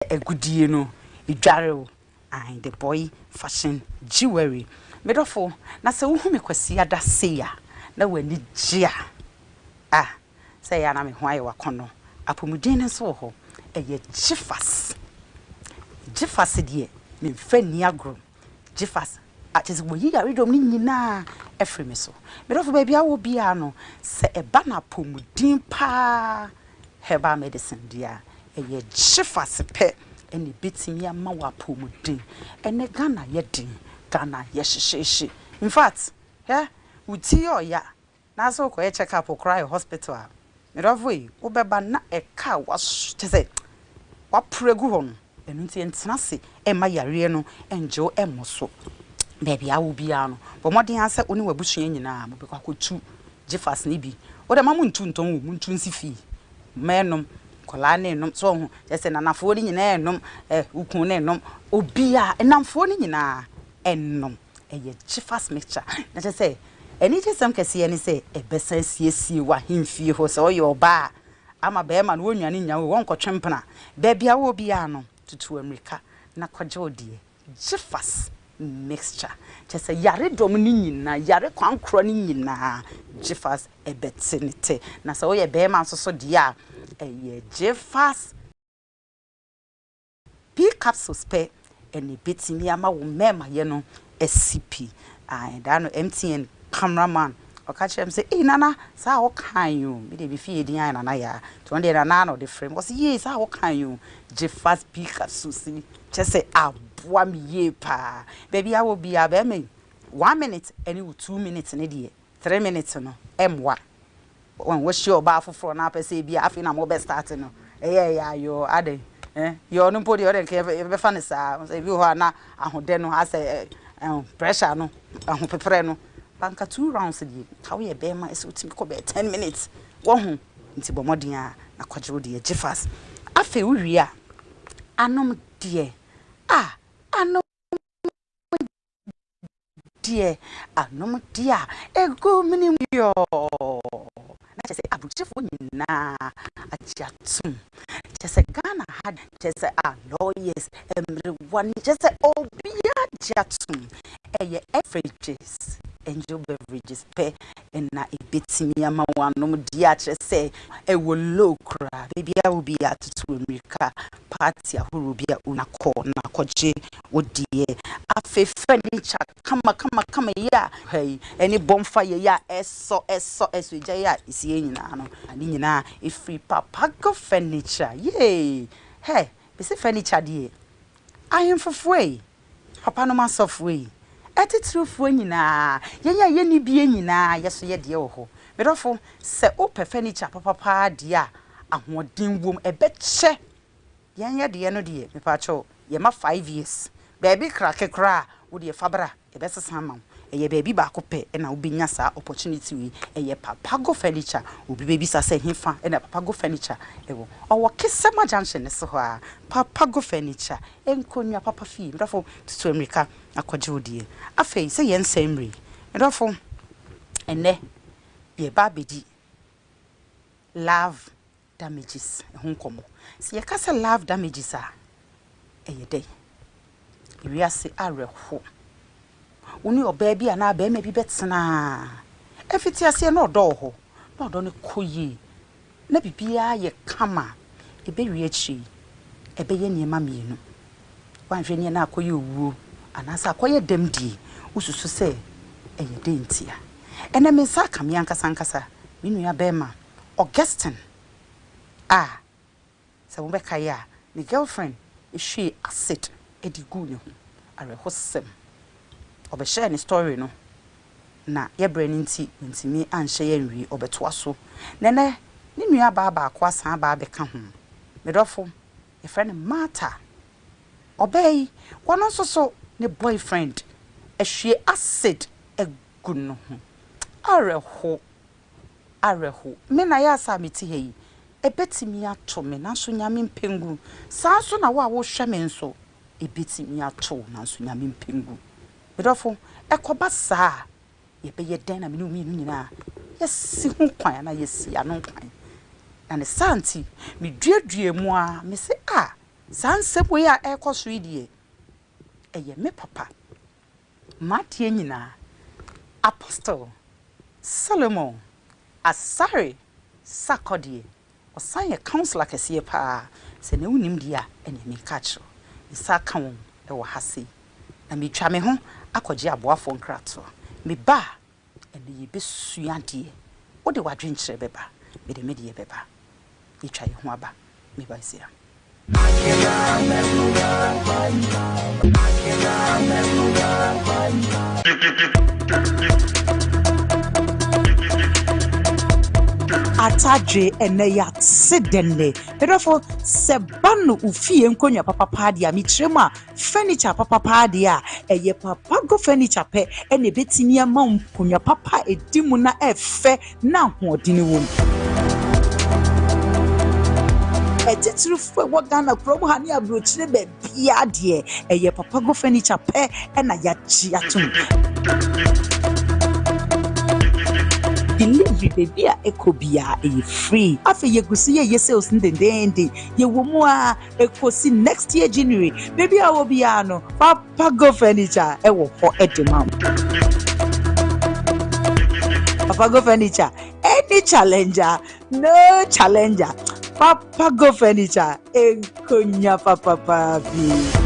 agudeɛ no dware o I the boy fashion jewelry Me dɔfo na sɛ wohu me Kwasiada sei a na w'ani gye a Ah sɛ ɛyɛ a na me ho ayɛ w'akɔnnɔ Apomuden no nso wɔ hɔ ɛyɛ gyefas Gyefas deɛ memfa nni agorɔ. Gye fa sa a, kyerɛ sɛ wɔayi yaredɔm no nyinaa afiri me so. Me dɔfo, baabi a wowɔ biara no, sɛ ɛba no apɔmuden pa ara herbal medicine deɛ a, ɛyɛ gye fa sa pɛ na ɛbɛtumi ama wo apɔmuden. Ɛnnɛ Ghana ayɛ den, Ghana ayɛ hyehyeehye. In fact, hwɛ, wo ti yɛ ɔya, Na sɛ wokɔyɛ check up koraa wɔ hospital a, me dɔfo ei, wobɛba na ɛka a woaso kyerɛ sɛ woaporo agu hɔ no. Ɛno nti ntena ase mma yareɛ no nngye wo mmɔ so. Baabi a wowɔ biara no, bɔ mmɔden ara sɛ wo ne w'abusua nyinaa mobɛkɔ akɔtu gyefas no bi. Wode mma montu ntɔn o, montu nsi fii. Mma nnom, nkwadaa no nnom, so woahu, kyerɛ sɛ nanafoɔ no nyinaa nnom, ɛ, wo kunu no nnom, obiara, nnamfoɔ no nyinaa ɛnnom. Ɛyɛ Jefas Mixture. Na kyerɛ sɛ, anigyesɛm kɛseɛ ne sɛ, ɛbɛsan asiesie w'ahemfie hɔ. Sɛ woyɛ ɔbaa a, ama barima no wɔnnwane nnya wo, wɔnkɔtwe mpena. Baabi a wowɔ biara no, tutu ammirika na kɔgye wo deɛ. Jefas Mixture. Kyerɛ sɛ, yaredɔm no nyinaa, yare kwankorɔ no nyinaa, Jefas bɛte ne tɛ. Na sɛ woyɛ barima nso so deɛ a, ɛyɛ Jefas. Bi capsules pɛ na ebetumi ama wo mmɛɛmayɛ no asi pi. Ae, da no MTN camera man ɔka kyerɛɛ me sɛ, Ei Nana, saa a wokae yi o, me deɛ mefii edin ayɛ Nana Yaa, nti ɔno deɛ Nana na ɔde frɛ me. Ɔse, Yie, saa a wokae yi o, gye fa Bi capsules yi, kyerɛ sɛ aboa me yie paa. Baabi a wɔ biara, bɛrima yi, one minute ne wo two minutes no deɛ, Three minutes no ɛmmoa wɔn wohyia ɔbaa foforɔ na apɛ sɛ ebia afei na mobɛ start no ɛyɛ ɛyaayɔɔ adɛn eh yɔɔ no mpo deɛ ɔdɛ nka yɛbɛfa no saa ebi wɔ hɔ a na ahodɛ no asɛ eh pressure no ahopeprɛ no ba nka two rounds deɛ nka woyɛ bɛɛma ɛsɛ wotumi kɔ bɛyɛ ten minutes wahu nti bɔ mmɔden ara na kɔgye wo deɛ gye fast afei wowie a anom deɛ ah anom deɛ anomdeɛ a ɛgu mene mu yɔɔ na kyɛ sɛ abukyefoɔ nyinaa agye atom kyɛ sɛ ghana ha kyɛ sɛ a lawyers mmerewa ne kyɛ sɛ obiara agye atom ɛyɛ beverages angel beverages pɛ na ebetumi ama wɔanom de akyerɛ sɛ ɛwɔ low koraa, baabi a obi atutu mmirika, party ahorow bi a onya kɔ na akɔgye wo deɛ. Afei furniture kamakamakama yi a ha yi, ɛne bonfire yi a ɛsɔ ɛsɔ ɛsɔ gya yi a ɛsi yɛ nyinaa no, ne nyinaa ɛfiri Papago Furniture. Yee! Hɛ! Mese furniture deɛ, ahemfofoɔ ei! Papanom asɔfoɔ yi, atitirifoɔ nyinaa, yɛn a yɛnni bie nyinaa, yɛ so yɛ deɛ wɔ hɔ. Me dɔfo, sɛ wopɛ furniture papa pa ara deɛ a ahoɔden wɔ mu, ɛbɛkyɛ. Yɛn yɛ deɛ no deɛ, mepakyɛw, yɛma five years. Baabi krake koraa a, wo deɛ fa bra, yɛbɛsesa ama wo. Ɛyɛ baabi baako pɛ na wobɛnya saa opportunity wei. Ɛyɛ Papago Furniture. Obi bɛbisa sɛ ɛhefa na Papago Furniture wɔ? Ɔwɔ Kesema Junction no so hɔ ara. Papago Furniture, nkonnwa papa fie, me dɔfo, tutu mmirika akɔgye wo deɛ. Afei, sɛ yɛn nsa mmire yi, me dɔfo, ɛnnɛ yɛreba abɛdi love damages ho nkɔmmɔ. Sɛ yɛka sɛ love damages a, ɛyɛ dɛn? Wiase awerɛhoɔ Wo ne ɔbaa bi anaa barima bi bɛtena a, mfitiaseɛ na ɔdɔ wɔ hɔ, na ɔdɔ no kɔ yie, na biribiara yɛ kama a, ɛbɛwie akyire yi, ɛbɛyɛ nneɛma mmienu. Woanhwɛ nie na akɔyɛ owuo anaasɛ akɔyɛ dɛm die, wosusu sɛ ɛyɛ dɛn ntia? Ɛnnɛ me nsa aka me ankasa ankasa, me nuabarima Augustine a. Sɛ mobɛkae a, ne girlfriend hwiee acid de guu ne ho. Awerɛhosɛm. Ɔbɛhyɛɛ ne story no na yɛbrɛ no nti wantumi anhyɛ yɛ anwie. Ɔbɛtoa so na ɛnnɛ ne nuabaa baako asan aba abɛka ho. Me dɔfo, yɛfrɛ no Martha. Ɔbaa yi, ɔno nso so ne boyfriend ahwie acid agu ne ho. Awerɛhow. awerɛhow. Me na ayɛ asa a mete ha yi, ebetumi ato me, nanso Nyame mpɛ ngu. Saa ara nso na wo a wohwɛ me nso, ebetumi ato wo, nanso Nyame mpɛ ngu. Me dɔfo, ɛkɔba saa a, yɛbɛyɛ dɛn na me ne wo mmienu nyinaa yɛasi ho kwan anaa yɛasi ano kwan? Na ne saa nti, miduaduaa mu ara, mise, Ah, saa nsɛm wei a ɛrekɔ so yi deɛ, ɛyɛ me papa. M'adeɛ nyinaa Apostle Solomon Asare Sarkor deɛ ɔsan yɛ councilor kɛseɛ paa sɛ nea wonim deɛ a ɛneɛ meka akyerɛ wo mesa aka wɔn wɔ ha sei na metwa me ho akɔgye aboafoɔ nkratoɔ meba a Ɛnde yɛbɛsua adeɛ. Wode w'adwenkyerɛ bɛba. Mede me deɛ bɛba. Yɛtwa yɛn ho aba. Me ba Isira. Akira Mekura Bye Akira Mekura Bye. Atadwe ɛnɛ yɛate dɛn ne. Medɔfo sɛ ba no wo fie nkonnwa papapaa deɛ a mekyerɛ mu a. furniture papa paa deɛ a ɛyɛ papa go furniture pɛ ɛna ebetumi ama nkonnwa papa a edi mu na ɛfɛ na ahoɔden wɔ mu. Atitirifo a ɛwɔ Ghana kurom ha ne aburokyire baabi adeɛ ɛyɛ papa go furniture pɛ ɛna yagye atom. delivery baabi a ɛkɔ biara ɛyɛ free afei yɛgu so yɛyɛ sales no dendeenden yɛwɔ mu a Ekosi next year January, baabi a wɔ biara no, Papa Go Furniture ɛwɔ hɔ ɛde ma wo. Papa Go Furniture, any challenger, no challenger. Papa Go Furniture, nkonya papapa bi.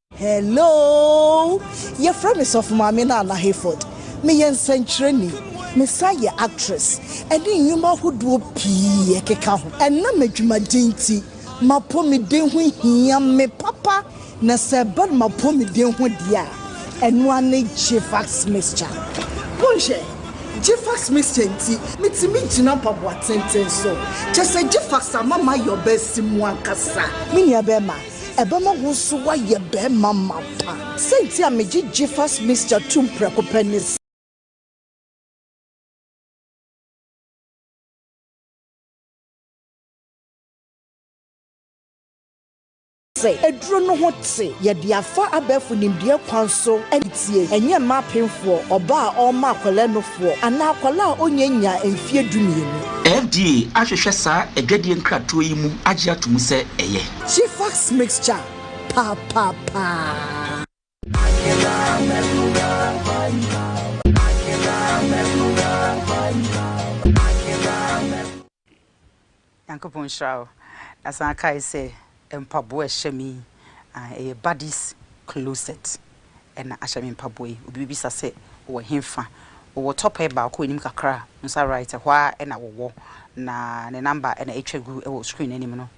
Hello! Yɛfrɛ me Sɔfo Maame Nana Hayford. Meyɛ nsɛnkyerɛnni. Mesan yɛ actress ne nnwuma ahodoɔ pii ɛkeka ho. Ɛnam adwumaden nti, m'apɔmuden ho hia me papa na sɛ ɛba no m'apɔmuden ho deɛ a, ɛno ara ne Gfax Mixture. Monhwɛ! Gfax Mixture nti, metumi gyina mpaboa tenten so. Kyerɛ sɛ Gfax ama mayɛ ɔbaasimu ankasa. Me nuabɛrima, Ɛbɛma wo nso woayɛ barima ma wo pa. Sɛ nti a megye Jifas Mixture tom prɛko pɛ ne sɛ. Aduro no ho te. Yɛde afa abɛɛfo nimdeɛ kwan so na etie. Ɛnyɛ mma apemfoɔ, ɔbaa a ɔrema akwadaa nufoɔ, anaa akwadaa a ɔnyɛ nnyaa mfeɛ dumienu. FDA ahwehwɛ saa adwadie nkratoɔ yi mu agye ato mu sɛ ɛyɛ. She fucks mixture papaapa. Nyankopɔn nhyira wo. Na san kae sɛ mpaboa a ɛhyɛ me yi, ah, ɛyɛ Buddy's closet ɛna ahyɛ me mpaboa yi. Obi bebisa sɛ wowɔ henfa? Wowɔ tɔpɛɛ baako a anim kakra a, wo nsa right hɔ ara na wowɔ. Na ne number na atwa gu wɔ screen no anim no.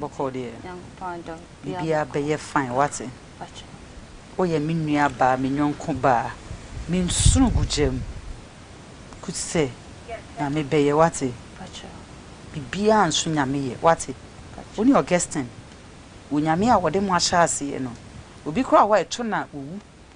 Bɔkɔɔ deɛ biribiara bɛyɛ fine wate Woyɛ me nua baa me yɔnko baa Me nsoro gu gya mu Kut sɛ Nyame bɛyɛ wate Biribiara nso Nyame yɛ wate Wo ne Augustine Onyame a ɔde mo ahyɛ aseɛ no Obi koraa wɔ a ɛtɔ no a ɔwu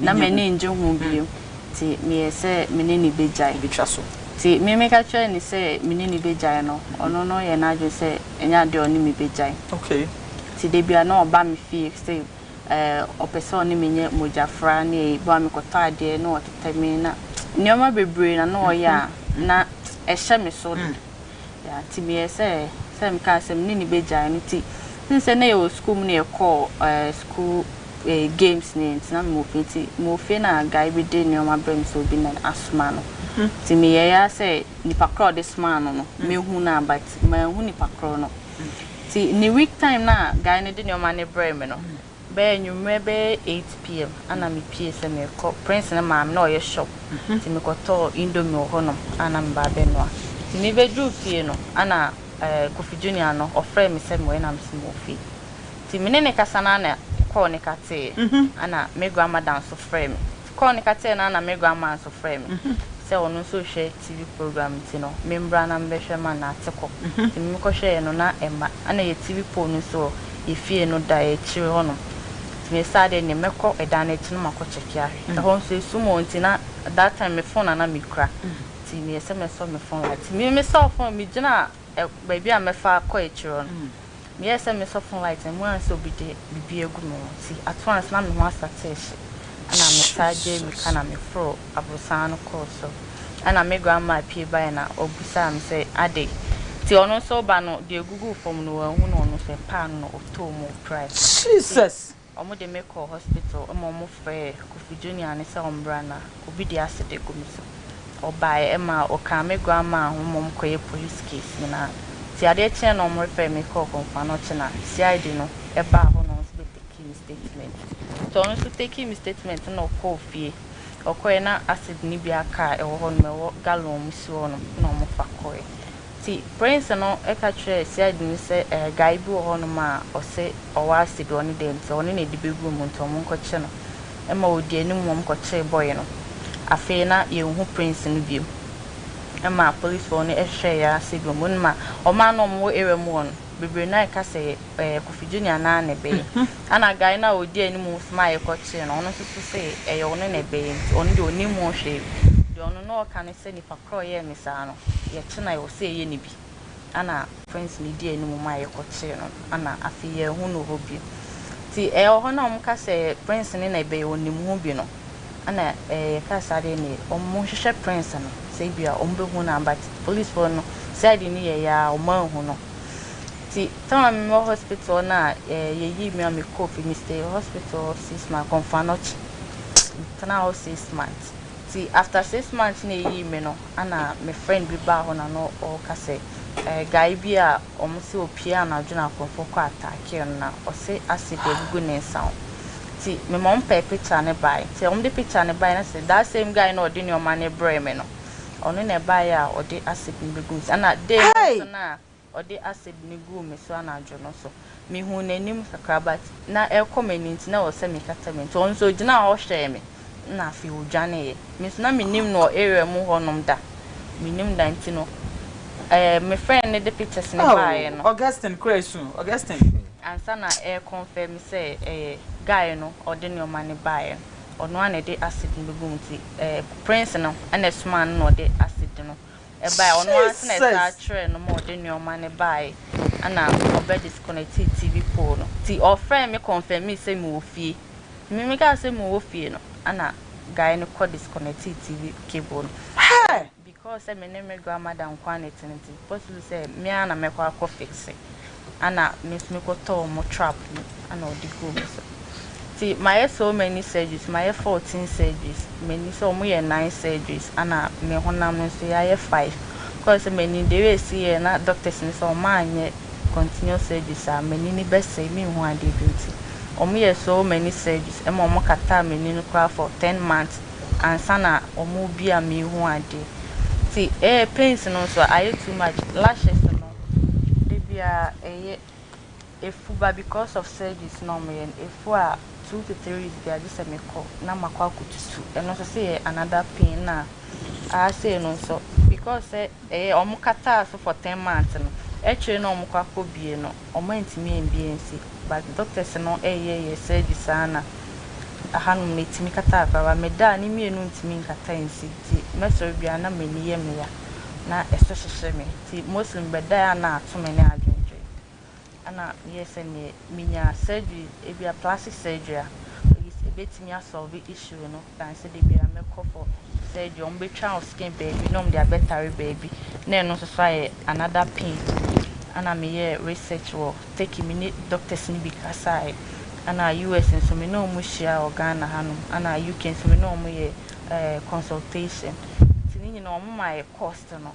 Na m'ani nnye ho bio. Nti meyɛɛ sɛ me ne no bɛgyae. Nti me meka kyerɛɛ no sɛ me ne no bɛgyae no, ɔno no yɛɛ n'adwene sɛ ɛnyɛ adeɛ a ɔne me bɛgyae. Nti da bi a na ɔba me fie sɛ ɔpɛ sɛ ɔne me nyɛ mogyafra ne ayi, boa me kɔtɔ adeɛ na ɔtetɛ me na nneɛma bebree na na ɔyɛ a na ɛhyɛ me so. Yeah, nti meyɛɛ sɛ, sɛ mekaa sɛ me ne no bɛgyae no, nti since sɛ na yɛwɔ sukuu mu na yɛkɔɔ eh, sukuu eh, games ne yɛ nti na mewɔ fie nti mewɔ fie na guy bi de nneɛma brɛ me sɛ obi na asoma no nti meyɛeɛ ara sɛ nipa korɔ a ɔde somaa no no mɛhu no a but manhu nipa korɔ no nti ne week time no a guy no de nneɛma no brɛɛ me no Bɛyɛ anwummerɛ bɛyɛ eight PM ana me pie sɛ merekɔ Prince ne maame na ɔyɛ shop nti me kɔ tɔɔ indomie wɔ hɔ nom ana me ba abɛ noa nti me bɛ duru fie no ana ɛɛ Kofi Junior no ɔfrɛ me sɛ me wɔ na me se me wɔ fie nti me ne ne kasa no ana kɔɔ ne ka tee ana me grandmother nso frɛ me kɔɔ no ka kyerɛɛ no a na me grandma nso frɛɛ me sɛ ɔno nso rehwɛ TV program nti no memmra na mebɛhwɛ ma no ate kɔ nti me mekɔhwɛeɛ no na ɛmma na yɛ TV pole no nso wɔ yɛ fie no da akyire hɔ nom nti me saa deɛ neɛ mɛkɔ ɛdan no akyi no makɔ kyɛke ahwɛ ɛhɔ nso ɛsum o nti na that time me phone na na mekura nti meyɛ sɛ mɛsɔ me phone light nti me mesɔ phone megyina baabi a mɛfa akɔ akyire hɔ no Meyɛɛ sɛ me sɔfon light no mu ann sɛ obi de biribi agu me ho nti ato ansa na me ho asatee hye ɛna me taa gyee mirika na me foro aborosan no kɔɔ so ɛna me grandma pie baeɛ na ɔbisaa me sɛ adɛn nti ɔno nso ba no deɛ ɛguguu fam no wanhu no ɔno nso ɛpaa no na ɔtɔɔ mu ɔpirae so. Jesus! Wɔde me kɔɔ hospital ma wɔfrɛɛ Kofi Junior no sɛ ɔmmra na obi de acid agu me so. Ɔbaeɛ ɛma ɔkaa me grandma ho ma wɔkɔyɛɛ police case nyinaa. Nti adeɛ kyeeɛ no wɔrefɛre me kɔɔ Komfano kye na CID no baa hɔ na wɔn nso bɛ takii me statement. Nti ɔno nso takii me statement na ɔkɔɔ fie. Ɔkɔeɛ na acid no bi aka a ɛwɔ hɔ nom, ɛwɔ gallon mu si hɔ nom na wɔfa kɔeɛ. Nti Prince no ka kyerɛɛ CID no sɛ eh guy bi wɔ hɔ nom a ɔse ɔwɔ acid ɔne deɛ nti ɔne na ɛde bɛgu mu nti ɔmo nkɔ kye no. Ɛma ɔdi anim ɔmo kɔ kyee boy no. Afei na yɛnhu Prince no biom. Ɛma police foɔ no hwɛɛɛ ara sɛ biom wonim a ɔmo a na ɔmo wɔ area mu hɔ no bebree no ayɛ ka sɛ ɛyɛ Kofi Junior naa na ɛbɛyɛ. Ɛna guy no a ɔdi anim nso no a yɛkɔ kyee no ɔno nso so se ɛyɛ ɔno na ɛbɛyɛ nti ɔno deɛ ɔnim ho hwee. Deɛ ɔno na ɔka ne sɛ. Papa koro a ɔyɛɛ me saa no, yɛtenae hɔ sɛ yɛyɛ no bi, ɛnna friends no dii anim maa yɛkɔkyee no, ɛnna afei yɛanhu no hɔ bio. Nti ɛwɔ hɔ no a wɔka sɛ Prince no na ɛbɛyɛ ɔnim ho bi no, ɛnna yɛkaa sɛ adeɛ no ye, wɔnhwehwɛ Prince no sɛ ebia wɔbɛhu no a, but policefoɔ no side no yɛeɛ ara wɔanhu no. Nti time a mewɔ hospital hɔ no a, yɛyii me a mekɔɔ fie, mestayed hospital hɔ six months, Komfo Anokye, metenaa hɔ six months. Ntsi after six months na eyii me no ana me friend bi baa hɔ na no ɔɔka sɛ guy bi a ɔmo se opue anadwo na akorɔmfo kɔ attackee no na ɔse acid egugu ne nsa ho ntsi me ma ɔmo pɛɛ picture no bae ntsi ɔmo de picture no bae na se that same guy na ɔde neɔma no brɛɛ me no ɔno na ɛbaeɛ a ɔde acid no begu me nsa na day no nso na ɔde acid no guu me so anadwo no so. Mihuu n'anim kakra but na ɛrekɔ m'ani nti na ɛwɔ sɛ mekata m'ani. Nti ɔno nso ogyinaa hɔ hwɛɛ me na afei odwaneeɛ. Me nso na mennim no wɔ area mu hɔnom da. Mennim da nti no eh, me friend no de pictures no baeɛ no. Oh Augustine kora asu o, Augustine. Ansa na ɛre confirm me sɛ ɛyɛ guy no a ɔde nneɛma no baeɛ no, ɔno ara na ɛde acid no bɛgu mu nti eh, Prince no na ɛsomaa no na ɔde acid no ɛbae ɔno ara nso na ɛsaa kyerɛɛ no ma ɔde nnoɔma no baeɛ ɛna ɔbɛ disconnectee TV pole no nti ɔfrɛɛ me confirmee sɛ mewɔ fie me me kaa sɛ mewɔ fie no ɛna guy no kɔ disconnectee TV cable no Hey! because sɛ me ne me grandmother nkoa na ɛte no nti possible sɛ me ara na mɛkɔ akɔ fixe ɛna me nso mekɔ tɔ wɔn trap mu ɛna ɔde guu me so nti mayɛ so many surgeries mayɛ fourteen surgeries m'ani sɛ wɔn yɛ nine surgeries ɛna me honam nso yɛayɛ five kɔɔ sɛ m'ani de wei si yɛ na doctors no sɛ wɔn anyɛ continuous surgeries a m'ani ni bɛsɛe me nhu adeɛ bi nti wɔn yɛ so many surgeries ɛma wɔn kataa m'ani no koraa for ten months ansa na wɔn bi a me hu adeɛ nti ɛɛ pains no nso ayɛ too much lashes no. Ebi a ɛyɛ afu ba because of surgeries na wɔyɛ no, afu a two to three weeks biara gye sɛ me kɔ na makɔ akɔtu su, ɛno nso sɛ yɛ another pain na aa sei no nso because sɛ ɛyɛ wɔn kataa so for ten months no, akyire na wɔn kɔ akɔ bie no wɔn antumi ambie ansi but doctors no ɛyɛ yɛ surgery saa na aha nom no ɛtumi kataa koraa but me da a ne mmienu ntumi nkata ansi nti mɛsɔre biara na m'ani yɛ me ya na ɛso hyehye me. Ntsi Muslim bɛdae a nna ato me ne adwendwen. Ana meyɛɛ sɛ neɛ menya surgery, ebia plastic surgery a, at least ebetumi a solve issue no than sɛ da biara mɛkɔ for surgery, ɔmo betwa wo skin baabi na ɔmo de abɛtare baabi na ɛno nso so ayɛ another pain. Ana meyɛɛ research wɔ Turkey, me ne doctors no bi kasaeɛ. Ana US nso me ne ɔmo hyia wɔ Ghana hanom, ana UK nso me ne ɔmo yɛ ɛɛ consultation. Ntsi ne nyinaa ɔmo maa yɛ cost no.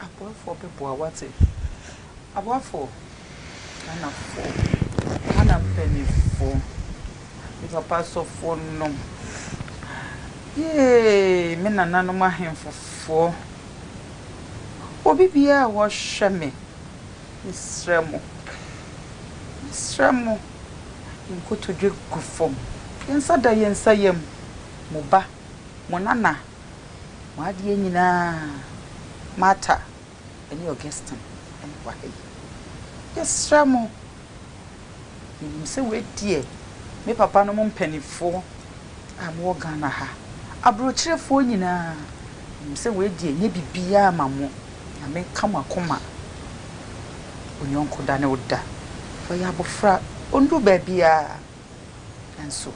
Aboafoɔ bɛboa wate. Aboafoɔ Ghanafoɔ Ghana mpaninfoɔ me papa asɔfoɔ nom yee me nana nom ahenfofoɔ obi biaa a wɔhwɛ me me srɛ mo me srɛ mo yɛn kotodwe gu fam yɛn nsa da yɛn nsa yam mo ba mo nana. Mo adeɛ nyinaa Martha ne Augustine na wɔ ha yi. Yɛsrɛ mo, yɛnim sɛ wei deɛ me papa nom mpaninfoɔ a mowɔ Ghana ha, abrɔkyerɛfoɔ nyinaa, yɛnim sɛ wei deɛ ɛnyɛ biribiara ma mo. Nyame nka mo akoma. Wo yɔnko da ne wo da. Ɔyɛ abɔfra, ɔndu baabiara. Nanso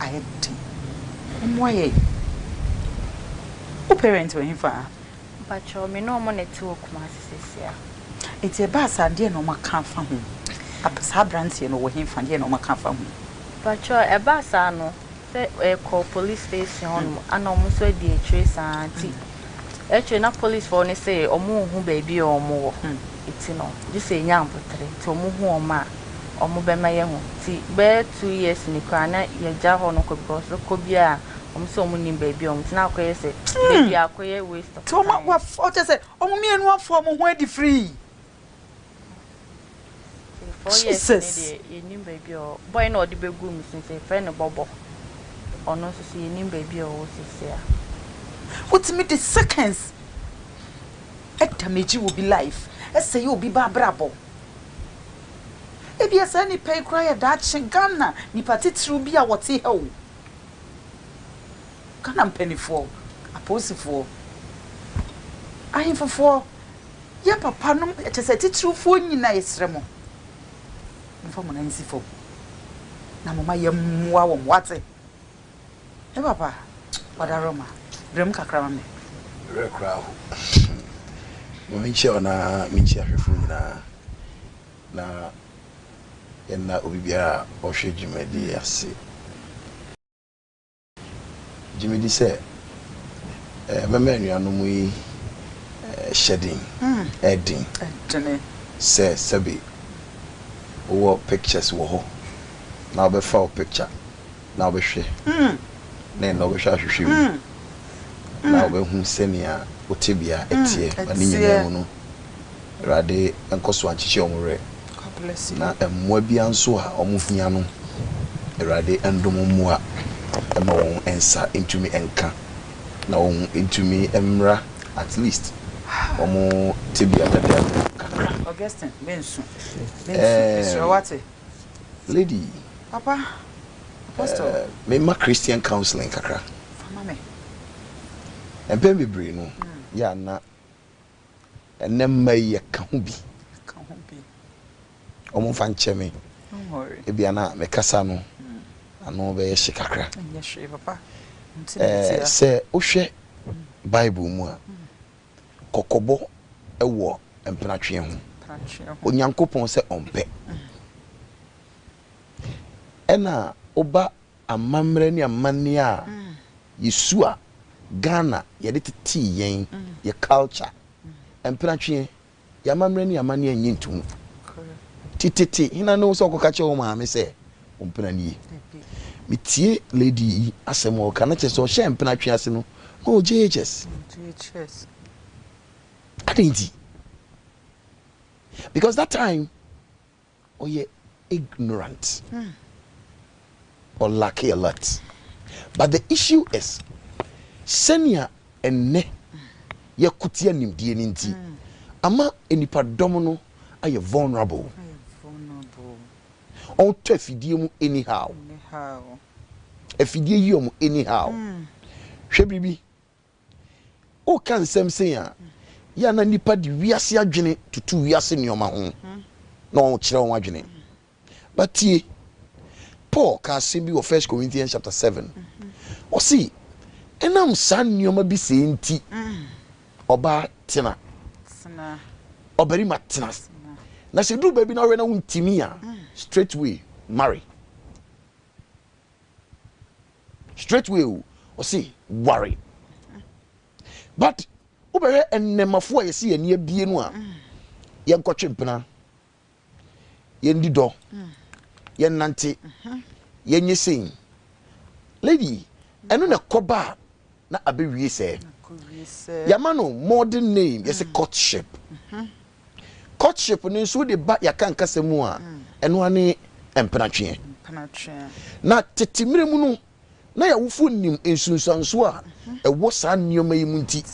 ayɛ den. Mommoa yɛn. Wo parents wɔ he fa? Mpakyɛw, me ne ɔmo na ɛte wɔ Kumasi seesei a. Nti ɛbaa saa, deɛ na ɔmo aka afa ho? Saa abranteɛ no ɔwɔ he fa, deɛ na ɔmo aka afa ho? Mpakyɛw, ɛbaa saa no. sɛ yɛkɔ police station hɔ nom ana ɔmo nso adi akyire saa nti akyire na police fɔ ne sɛ ɔmo nhu baabi a ɔmo wɔ ɛti no gye sɛ ɛnya mpotere nti ɔmo hu ɔmo a ɔmo bɛma yɛ hu nti bɛɛ two years ni koraa na yɛgya hɔ no kɔ because kɔ bi a ɔmo sɛ ɔmo nim baabi a ɔmo ti na akɔ yɛ sɛ baabi akɔ yɛ waste of time. Ti ɔmo wa fɔ kyɛ sɛ ɔmo mienu afɔ ɔmo ho adi free. Jesus. Wotumi de seconds damage obi life, ɛsɛe obi ba abrabɔ. Ebia saa nipa yi koraa yɛ daakye Ghana nipa titiriw bi a wɔte ha o. Ghana mpaninfoɔ, apolisifoɔ, ahenfofoɔ. Yɛ papa nom kyɛsɛ atitiriw foɔ nyina yɛsrɛ mo momfa mo nan nsi fam na moma yɛ mmoa wɔn wate me papa wada roma brem kakra ma me. Werɛ koraa aho ma menkyia wɔn na menkyia ahwɛfoɔ nyinaa na yɛnna obi biara a ɔhwɛ dwumadie yi ase. Gye medi sɛ mɛma anuanom yi hyɛden ɛden sɛ sɛbe wowɔ pictures wɔ hɔ na wobɛfa wo picture na wobɛhwɛ na ɛnna wobɛhwɛ ahwehwɛ mu na wobɛhu sɛnea wo tebea ɛteɛ ma ne nyinaa mu no. Awurade nkɔ so nkyekye wɔn werɛ. Na mmoa biara nso a wɔhia no, Awurade ndom mmoa mma wɔn nsa ntumi nka, na wɔn ntumi mmra at least wɔn tebea dada mu kakra. Augustine, mensu. Mensu, mesrɛ wo, wate? Lady. Papa, Apostle. Eh, mema Christian counseling kakra. Fa ma me. Mpɛn bebree no, yɛ a na Ɛnnɛ mma yi yɛka ho bi. Wɔn mfa nkyɛ me. Ebia na me kasa no ano bɛyɛ hye kakra. Ɛɛ sɛ wohwɛ Bible mu a, kɔkɔbɔ wɔ mpenatweɛ ho. Onyankopɔn sɛ ɔmpɛ. Ɛna woba. amammerɛ ne amanneɛ a yɛsua Ghana yɛde tetee yɛn, yɛ culture. Mpenatwe, yɛn amammerɛ ne yɛn amanneɛ nnye ntom. Ti tete, hena ne wo sɛ wokɔka kyerɛ wo maame sɛ wo mpena nie? Metie lady yi asɛm a ɔka no kyerɛ sɛ ɔhyɛɛ mpenatwe ase no na ɔwɔ JHS. Adɛn nti? Because that time Ɔyɛ ignorant ɔ lack a lot but the issue is sɛnea ɛnnɛ yɛko tia nimdeɛ no nti ama nnipa dɔm no ayɛ vulnerable ɔmo tɔ afidie mu anyhow afidie yi ɔmo anyhow hwɛ biribi Woka nsɛm sei a, yɛ a na nnipa de wiase adwene tutu wiase nneɛma ho na wɔkyerɛ wɔn adwene. But tie, Paul ka asɛm bi wɔ First Corinthians chapter seven. Ɔse, ɛnam saa nneɛma bi sei nti, ɔbaa tena, ɔbarima tena. Na sɛ duru baabi na wohwɛ na wontumi a, straight way, marry. straight way o ɔse ware but wobɛhwɛ ɛnnɛmafo a yɛsi yɛn ani abie no a yɛnkɔtwe mpena yɛndi dɔ yɛnnante yɛnyɛ sei lady ɛno na ɛkɔba a na abewie sɛ yɛama no modern name yɛse courtship courtship no nso wode ba yɛaka nkasa mu a ɛno ara ne mpenatweɛ na tete mmerɛ mu no na yɛawofo nim nsunsuanso a ɛwɔ saa nneɛma yi mu nti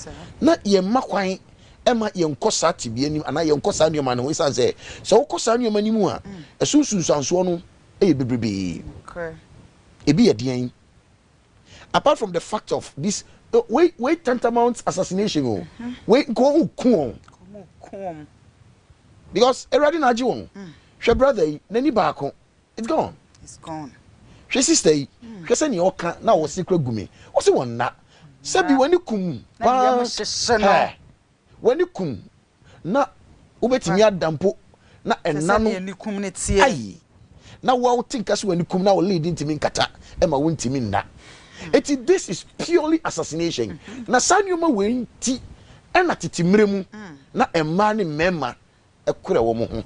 na yɛmma kwan ɛma yɛnkɔ saa tebea nim anaa yɛnkɔ saa nneɛma no ho ɛsiane sɛ sɛ wokɔ saa nneɛma no mu a ɛso nsunsuansoɔ no ɛyɛ bebrebee ebi yɛ deɛn apart from the fact of this wei wei tantamount assassination o wei nka wɔn ku wɔn because awurade na agye wɔn hwɛ brother yi n'ani baako it's gone hwɛ sister yi hwɛ sɛ nea ɔka na ɔse kura gumi ɔse wɔn nna sɛbi wɔn ani kum paa wɔn ani kum Na wobɛtumi ada mpo na ɛna no ayi. Na wo a wote nka sɛ w'anikum na wo lead ntumi nkata ɛma wontumi nna. Enti this is purely assassination. Na saa nneɛma wei nti ɛna tete mmerɛ mu na mmaa ne mmarima korɛ wɔn ho.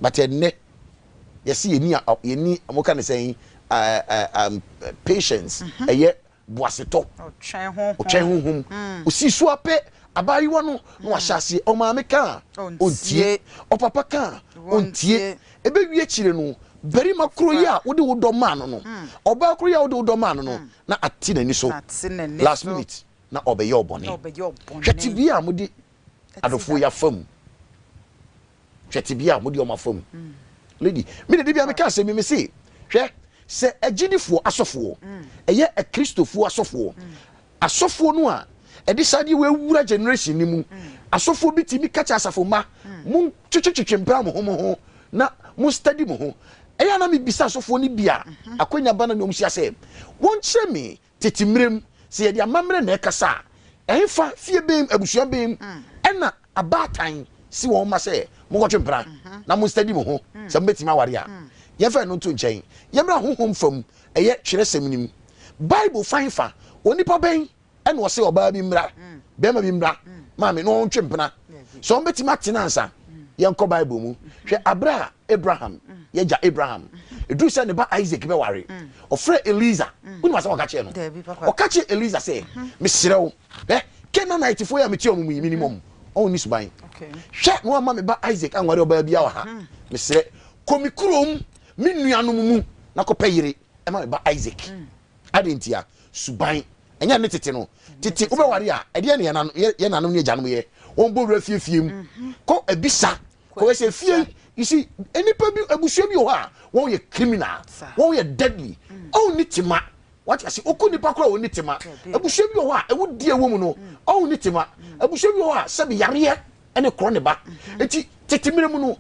But ɛnnɛ yɛse yɛni, yɛni, wɔka no sɛn, patience, ɛyɛ boasetɔ, ɔtwɛn honhom, ɔsii so ara pɛ, abaayewa no na wahyɛ aseɛ, ɔmaame ka a, ɔntie, ɔpapa ka a, ɔntie, ɛbɛwie akyire no, barima korɔ yi a wode wo dɔ maa no no, ɔbaa korɔ yi a wode wo dɔ maa no no, na ate n'ani so, last minute na ɔbɛyɛ wo bɔne. Hwɛ tebea a mode adɔfoɔ yi afa mu. Hwɛ tebea a mode wɔn afa mu. Lady, me de da biara meka asɛm bi me se, hwɛ, sɛ agyidifoɔ asɔfoɔ, ɛyɛ Akristofoɔ asɔfoɔ, asɔfoɔ no a ɛde saa adeɛ wɔ awura generation no mu, asɔfoɔ bi tumi ka kyɛ asafo mma, mo twetwetwetwe mpra mo ho mo ho na mo study mo ho. Ɛyɛ na mebisa asɔfoɔ no bi a akwanya ba na ne wɔn hyia sɛ, wɔnkyerɛ me Tete mmere mu, sɛ yɛde amammerɛ na ɛkasa a, ɛhefa, fie bɛn mu, abusua bɛn mu, ɛna abaatan si wɔn mma sɛ, Monkɔtwe mpena na monstadi mo ho sɛ mobɛtumi aware a? Yɛmfa ɛno nto nkyɛn. Yɛmmra honhom fam, ɛyɛ Twerɛsɛm no mu. Bible fa he fa? Onipa bɛn na ɔse ɔbaa bi mmra, barima bi mmra, maame, na wɔntwe mpena? Sɛ wɔbɛtumi atena ansa? Yɛnkɔ Bible mu. Hwɛ aberɛ a Abraham, y'agya Abraham, ɛduru sɛ ne ba Isaac bɛware, ɔfrɛɛ Elieser. Wonim asɛm a ɔka kyerɛɛ no? Ɔka kyerɛɛ Elieser sɛ, Mesrɛ wo, hwɛ, Canaanitefoɔ yi a metie wɔn yi, menim wɔn, wɔn nni suban. Hwɛ na woamma me ba Isaac anware ɔbaa biara wɔ ha. Mesrɛ, kɔ me kurom, me nuanom mu, na kɔpɛ yere ma me ba Isaac. Adɛn ntia? Suban. Ɛnyɛ nne tete no. Tete wobɛware a, ɛdeɛn na yɛn nanom ne agyanom yɛ? Wɔbɔ wura fie fie mu. Kɔ abisa Kɔhwɛ fie yi. You see, nnipa bi, abusua bi wɔ hɔ a, wɔn yɛ criminal. Wɔn yɛ deadly. Ɔn ni tema. Wate ase? Oku nipa koro a ɔnni tema. Abusua bi wɔ hɔ a, awudie wɔ mu no, ɔn ni tema. Abusua bi wɔ hɔ a, sɛbi yareɛ ɛne korɔ ne ba. Eti, tete mmerɛ mu no,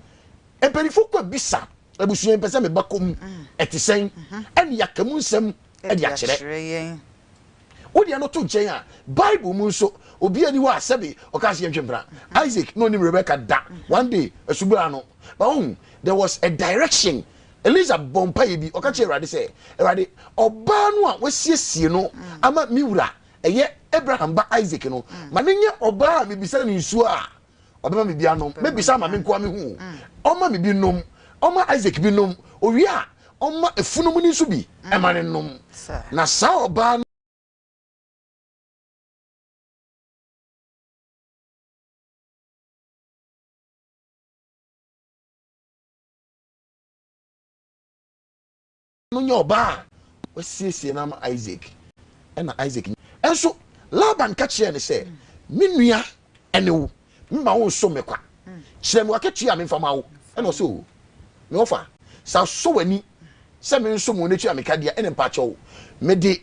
mpanyinfoɔ kɔ bisa abusua yi, mpɛ sɛ me ba kɔ mu, ɛte sɛn? Ɛne yaka mu nsɛm ɛde akyerɛ. Wo deɛ no to nkyɛn a, Bible mu nso, obi ani hɔ a sɛbe ɔka sɛ yɛntwe mpena. Isaac na onim Rebecca da, one day, asubura ano. Ba wohu, there was a direction. Elisa bɔ mpaeɛ bi, ɔka kyerɛ Awurade sɛ, Awurade, ɔbaa no a wasiesie no ama me wura, ɛyɛ Abraham ba Isaac no, ma no nyɛ ɔbaa a mebisa no nsuo a, Ɔbɛma me bi anom. Mɛbisa ama me nkoa mehu o. Mm. Ɔma me bi nom. Ɔma Isaac bi nom. Owie a, ɔma efunumu no nso bi mm. ɛma ne nom. Na saa ɔbaa no no nyɛ ɔbaa a wasiesie no ama Isak. Ɛnna Isak nyin. Nanso Laban ka kyerɛɛ no sɛ, Me nua ne wo, mma wonso me kwa. Kyerɛ me w'akatua a memfa mma wo. Ɛnna ɔsɛ, O me wɔfa, sɛ asɔ w'ani sɛ mensom wo na tua me ka de a, ɛnna mpakyɛw, mede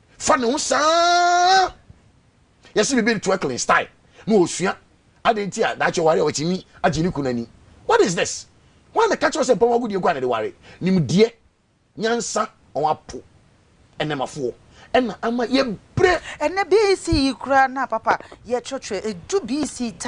fa ne ho saa yɛsi bibi ne twerkling style na osua adi nti a daakye wari a watumi agye ne kunu ani what is this wọn na kakyɛ sɛ mpɔn agudie kura na de wari nimdeɛ nyansa wɔn apo ɛnɛmafoɔ ɛna ama yɛ brɛ. Ɛnɛ BC yi koraa na papa yɛ twerɛtwerɛ ɛdu BC ta.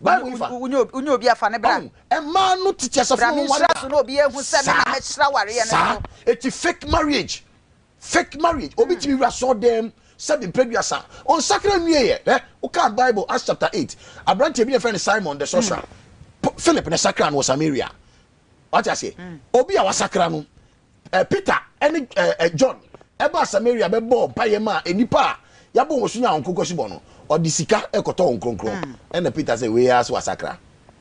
Bible nfa. Wonyɛ obi a fa ne bra. Ɔn mmaa no tete asafo na wɔn ware da. Bra me nhyira so na obi ehu sɛ me na me hyira wareɛ no so. Saa saa eti fake marriage fake marriage obi tumi wura sɔɔ dɛm sɛbi mpɛduasa ɔnsakra nwie yɛ hwɛ wokaa Bible Acts chapter eight abranteɛ bi na yɛfrɛ no Simon the sorcerer Philip na ɛsakra no wɔ Samaria wate aseɛ obi a wasakra no eh, Peter ne eh, eh, John ɛbaa Samaria bɛbɔɔ mpaeɛ maa nnipa a yɛabɔ wɔn so nya nkonkɔsi bɔ no, ɔde sika ɛkɔtɔ wɔn kronkron. Mm. Ɛna Peter sɛ, wei ara so asakra.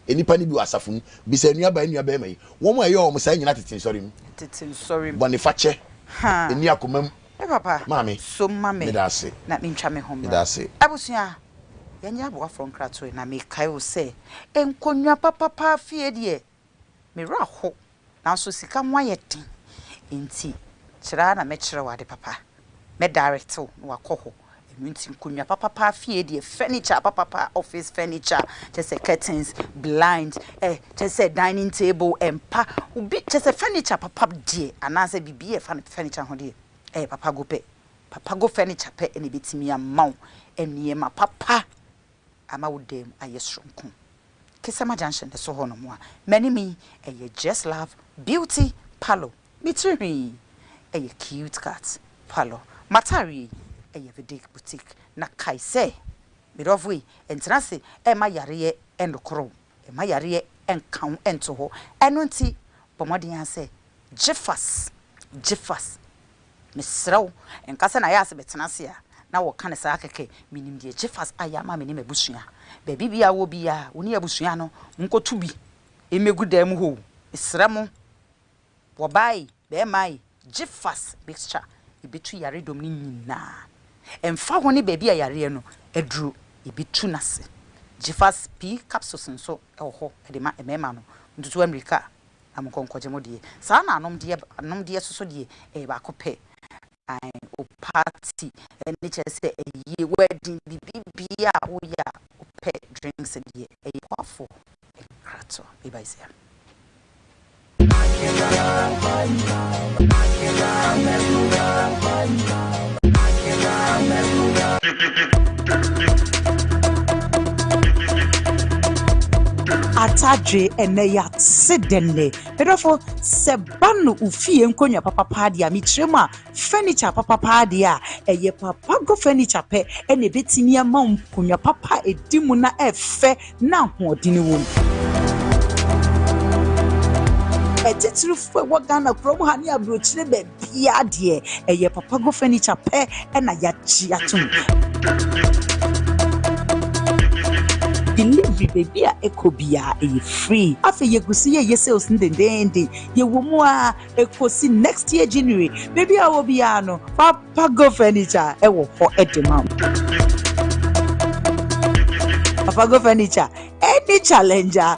Nnipa no bi wɔ asafo mu, bisa nnuaba nnua bɛrima yi, wɔn a ɛyɛ wɔn saa nyina tete nsɔre mu. Tete nsɔre mu. Bɔnefakyɛ, ɛni akoma mu. Me papa, maame, so ma me, meda ase. Na mentwa me ho mmra. Abusua, yɛnyɛ aboafoɔ nkratoe na mekae o sɛ, nkonnwa papapa fie deɛ, Me werɛ ahow, nanso sika ho ayɛ den nti, kyerɛ ara na mɛkyerɛ wo ade papa. Mɛ direct wo na wakɔ hɔ. Ɛno nti nkonnwa papapa fie deɛ, furniture papapa, office furniture, kyerɛ sɛ curtains, blinds, eh, kyerɛ sɛ dining table, ɛmpa, obi, kyerɛ sɛ furniture papa deɛ, anaasɛ biribi a ɛfa furniture ho deɛ, ɛyɛ Papago pɛ. Papago furniture pɛ na ɛbɛtumi ama wo nneɛma papa. Ama wo dan mu ayɛ soronko. Kesama junction no so hɔ nom a m'anim yi ɛyɛ Jess Love Beauty Parlour. Me tiri nhwi yi ɛyɛ Cute Cut Parlour. M'ataare yi ɛyɛ Vidic Boutique. Na kae sɛ, me dɔfo yi, ntena ase mma yareɛ nnokoro wo. Mma yareɛ nka wo nto hɔ. Ɛno nti, bɔ mmɔden ara sɛ, Gyefas! Gyefas! Mesrɛ wo, nka sɛ na ayɛ a sɛ mɛtena ase a, na wɔka no saa kɛkɛ. Menim deɛ Gyefas ayɛ ama me ne m'abusua. Baabi biara a wowɔ biara, wo ne abusua no monkɔto bi mmɛgu dan mu hɔ o. Mesrɛ mo! Wɔbae, bɛmae gyefas mixture ebetu yare dɔm no nyinaa ɛmfa ho ne baabi a yareɛ no aduru ebetu no ase. Gyefas pii capsules nso wɔ hɔ de ma mmarima no, montutu ammirika na monkɔ nkɔgye mo deɛ. Saa na anomdeɛ anomdeɛ soso deɛ ɛyɛ baako pɛ. Ae o party ɛne kyerɛ sɛ ayie wedding biribibiaa a woyɛ a wopɛ drinks deɛ ɛyɛ boafo nkrato ibazia. Atadwe ɛnɛ yɛase dɛnnɛ Me dɔfo, sɛ ba no wo fie nkonnwa papa paa deɛ a, mekyerɛ mu a, furniture papa paa deɛ a, ɛyɛ papa go furniture pɛ ɛna ɛbɛtumi ama wo nkonnwa papa a ɛdi mu na ɛfɛ na ahoɔden wɔ mu. Atitirifoɔ ɛwɔ Ghana kurom ha ne aburokyire baabi. biaa deɛ ɛyɛ papago furniture pɛ na yagye atom. Delivery baabi a ɛkɔ biara ɛyɛ free. Afei yɛgu so yɛyɛ sales no dendeenden. Yɛwɔ mu ara ɛkɔsi next year January. Baabi a wowɔ biara no, Papago Furniture ɛwɔ hɔ de ma wo. Papago Furniture ɛne Challenger.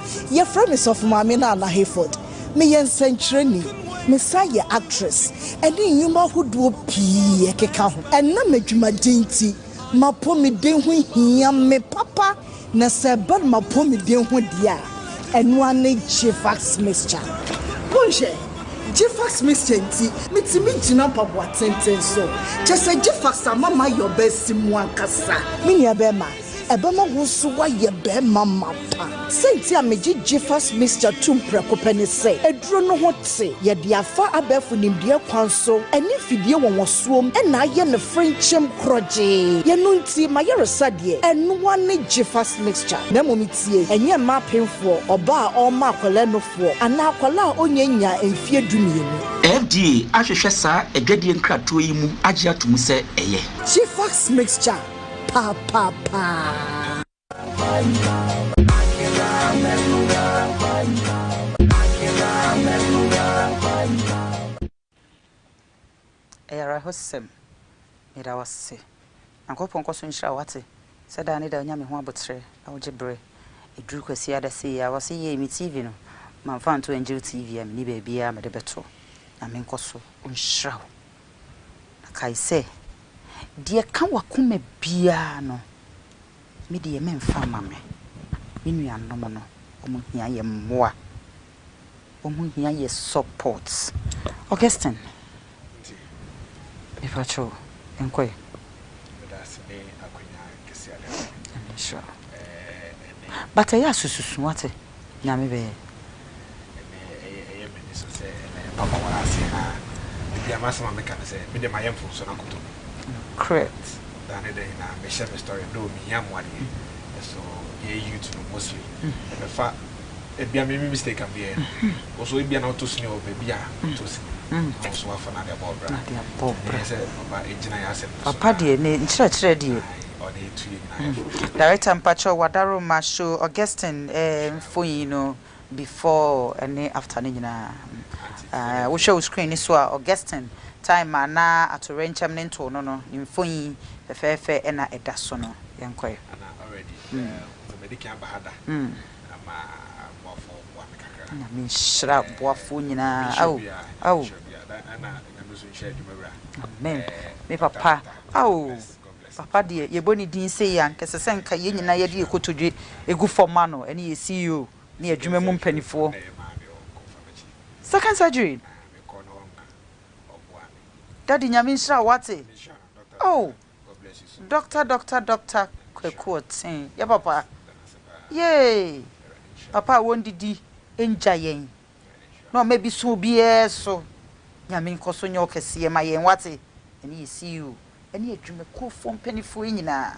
Yɛfrɛ me Sɔfo Maame Nana Hayford. Meyɛ nsɛnkyerɛnni. Mesan yɛ actress ne nnwuma ahodoɔ pii ɛkeka ho. Ɛnam adwumaden nti, m'apɔmuden ho hia me papa na sɛ ɛba no m'apɔmuden ho deɛ a, ɛno ara ne Gvax Mixture. Monhwɛ, Gvax Mixture nti metumi gyina mpaboa tenten so. Kyerɛ sɛ Gvax ama mayɛ ɔbaasimu ankasa. Me nuabɛrima, ɛbɛma wo nso woayɛ barima ma wo pa. Sɛnti a megye Jiffers Mixture tom prɛko pɛ ne sɛ, aduro no ho te, yɛde afa abɛɛfo nimdeɛ kwan so ne mfidie nwonwasoɔm na ayɛ no frenkyem korɔgyee. Yɛno nti m'ayaresa deɛ, ɛnoa ne Jiffers Mixture. Na mmom tie, ɛnyɛ mma apemfoɔ, ɔbaa a ɔrema akwadaa nufoɔ anaa akwadaa a ɔnyɛ nnyaa mfeɛ dumienu. FDA ahwehwɛ saa adwadie nkratoɔ yi mu agye ato mu sɛ ɛyɛ. Jiffers Mixture Ɛyɛ awerɛhosɛm. Meda wo ase. Nyankopɔn nkɔ so nhyira wo wate sɛ daa ne daa onya me ho aboterɛ na ogye berɛ ɛduru kwasiada sei a wɔse yei me TV no mamfa anto Angel TV a menni baabiara a mede bɛto Nyame nkɔ so nhyira wo Na kae sɛ, 'Deɛ ɛka w'akoma biara no, me deɛ meremfa mma me. Me nuanom no, wɔhia yɛn mmoa. Wɔhia yɛn support. Augustine, mepa kyɛw, nkɔ ɛ. Meda ase ne akwanya kɛseɛ a wode ama me. Nyame nhyira wo. Ɛɛ, ɛnnɛ yi. But ɛyɛ a susu su, wate? Nyame bɛyɛ. Ɛnɛ ɛyɛ ɛyɛ m'ani so sɛ ɛnɛ yɛn papa wɔ ase haa. Ebia m'asɛm a meka ne sɛ, me deɛ mayɛ mfomso no akoto me. Nokorɛt. Da ne da nyinaa me hyɛ me story though me hia mmoa deɛ, ɛso yɛn youth no mostly ɛbɛfa ebia me me mistake a me yɛɛ no, wo nso ebia na wotɔ sini wɔ baabi a wotɔ sini no, na wo nso w'afa no ade abɔ wo bra. Nti ɛnɛ yɛ sɛ papa egyina yɛn asɛm no so haa. Papa deɛ ne nkyerɛkyerɛ deɛ ɔde retue nyinaa. Director mpakyɛw wadaroma show Augustine mfonyin no before ne after no nyinaa ah wohwɛ wo screen no so a Augustine time a na atoyerɛnkyɛm no ntow no no ne mfonyin fɛfɛɛfɛ na ɛda so no yɛnkɔɛ. Ana already me madi kan aba ha da ma boafoɔ boa me kakra. Nyame nhyira boafoɔ nyinaa ao ao. Ɛna Nyame nso nhyira adwuma wura. Amen me papa ao. Papa deɛ yɛbɔ ne din sei a, anka ɛsɛ sɛ nka yɛn nyinaa yɛde yɛn kotodwe gu fam ma no, ɛne yɛn CEO ne yɛn adwuma mu mpanimfoɔ. Second surgery no, Daddy Nyame nhyira wo, wate? Oh, Doctor, Doctor, Doctor Kwaku Ɔtee, yɛ papa, yay! Papa a wɔnnidi nngya yɛn, na ɔma bi so obiara so Nyame nkɔ so nyɛ ɔkɛseɛ ma yɛn wate ɛne yɛ CEO ɛne adwumakuofoɔ mpaninfoɔ nyinaa.